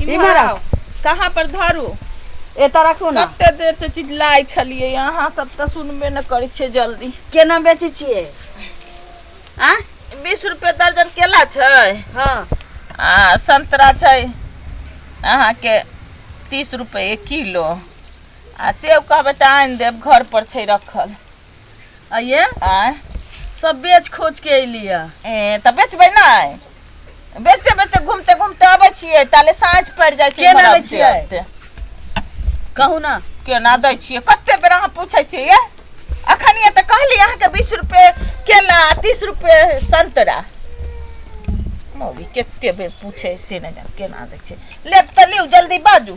इम्हर इम्हर आउ। आउ कहाँ पर धरू एतऽ राखू ने कते देर से चिल्लाइ छलियै अहाँ सब तऽ सुनबे ने करै छियै जल्दी केना बेचै छियै आ बीस रुपए दर्जन केला छै हँ आ संतरा छै अहाँके तीस रुपए किलो आ सेब कहबै तऽ आनि देब घर पर छै रखल आ ये आय सब बेच खोच के अइली है ए तऽ बेचबै नहि बेचते बेचते घूमते घूमते अबै छियै ताले साँझ पड़ि जाइ छै केना इम्हर दै अबिते छियै? अबिते। कहू ना केना दै छियै कते बेर अहाँ पूछै छियै ये? अखनिये तऽ कहली अहाँके बीस रुपए केला आ तीस रुपए संतरा मौगी कते बेर पूछे से नहि जान केना दै छै लेब तऽ लिउ जल्दी बाजू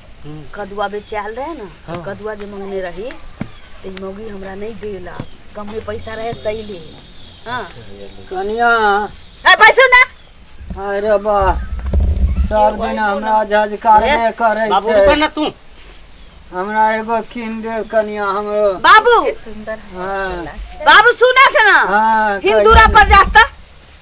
कदुआ बेचायल रहे ना तो हाँ। कदुआ जे मंगने रही तो ई मौगी हमरा नहीं देला कमे पैसा रहे तैले हाँ कनिया ए पैसा ना अरे बा सब दिन हमरा झजकार ए, में करे बाबू रुका छै ना तू हमरा एगो कीन दे कनिया हमरो बाबू हाँ बाबू सुना था ना हाँ हिंदूरा कहिया पर जाता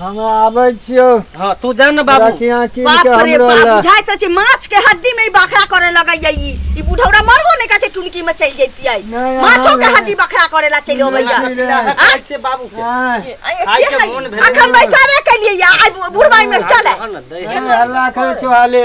हम आबै छियौ हाँ तू जान ना बाबू बाकी यहाँ कीन बाप के रे हमरो बाप ला बुझाइ त छै माछ के हड्डी में ई बखरा करे लगैया ई ई बुढ़ौरा मरबो नै कहै छै टुनकी में चलि जैतियै नहि, यहाँ माछो के नहि। हड्डी बखरा करे ला चलि अबैया नहि, नहि। खाइ छियै बाबू के हाँ, खाइ के मोन भेल अखन बैसाबे केलियै या आइ बुढ़बाई में चले हँ ना, दै है। हल्ला करे चोहाले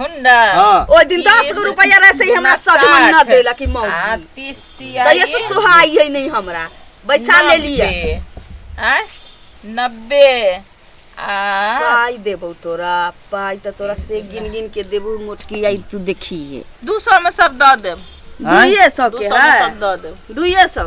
हुंडा हाँ। ओ दिन दस गो रुपया रहे से ही हमरा सद मन न देला कि आ मौत तीस तिया तैया से सुहाई है नहीं हमरा बैसा ले लिया आ नब्बे आ पाई देबो तोरा पाई त तोरा से गिन गिन के देबो मोटकी आई तू देखिए दू सौ में सब दऽ देब आँय? दुइये सौ दू के सौ में है सब दऽ देब दुइये सौ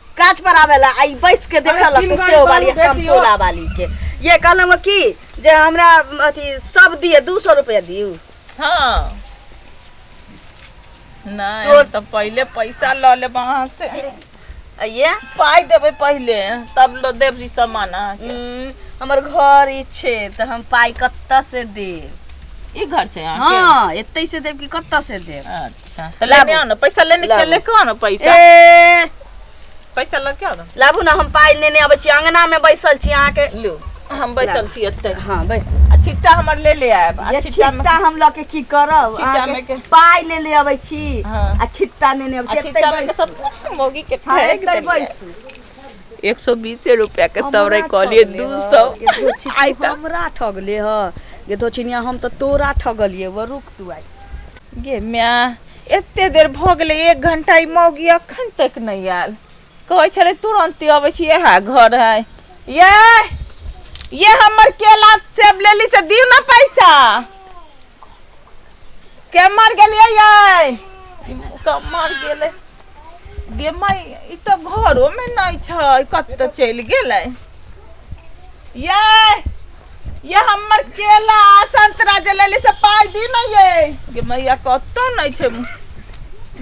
काज पर आवेला आई बैस के देखल अरे, तीन तो गाड़ी सेव वाली बालू आ भेज दियो। संतोला वाली के ये कहलम कि जे हमरा अथी सब दिए दू सौ रुपया दियो हाँ नहीं तो- हम तो पहले पैसा ल ले वहाँ से आ ये पाई देवे पहले तब लो देव जी सामान अहाँके। हम्म, हमर घर ई छै तऽ हम पाइ कतऽ से देब ई घर छै अहाँके हाँ एतै से देब कि कतऽ से देब अच्छा अच्छा तो लाबू। लेने आओ ना पैसा लेने के लाबू। लेके आओ ना पैसा ए पैसा लेके आओ ना लाबू ना हम पाइ नेने अबै छी अंगना में बैसल छी अहाँ के लो हम बैसल छी एते हाँ बैस आ छिट्टा हमर ले ले आयब आ ये छिट्टा में छिट्टा हम लऽ के की करब छिट्टा अहाँ के में के- पाइ ले ले अबै छी हाँ। आ छिट्टा नेने अबै आ छी छिट्टा में के सब कुछ मौगी के हाँ, ठेक एतै देलियै। बैसू एक सौ बीस रुपया के हमरा सौरे कहलिए ठगले दू ह, सौ ये धो छिट्टी हमरा ठगले ह ये धो चिनिया हम तऽ तोरा ठगलिए व रुक तू आई गे माय एते देर भऽ गेलै एक घंटा ई मौगी अखन तक नहि आयल कहै छलै तुरंते अबै छी इएह घर है ये ये हमर केला सेब लेली से दियौ ने पैसा केमर गेलियै ये केमर गेलै गे माय ई तऽ घरो में नहीं छै कत चल गेलै ये ये हमर केला संतरा जे लेली से पाई दी न ये गे मैया कत नहीं छै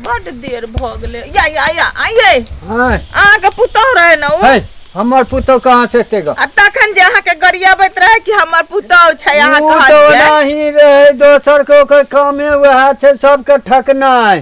बड देर भ गेलै या या या आइए हैं अहाँ के पुतोह रहे न ओ हैं हमर पुतौ कहाँ से एते गा आ तखन जे अहाँ के गरियाबैत रहे कि हमर पुतोह छै अहाँ ऊ तो कहलियै ओनाही रहे दोसर के ओकर कामे वएह छै सबके ठकनाइ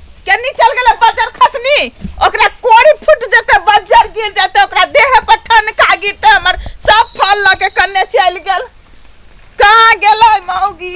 केनी चल गेलै बजर खसनी ओकरा कोड़ी फूट जेतै बजर गिर जेतै ओकरा देह पर ठनका गिरतै हमर सब फल लऽ के कन्ने चलि गेल कहाँ गेलै मौगी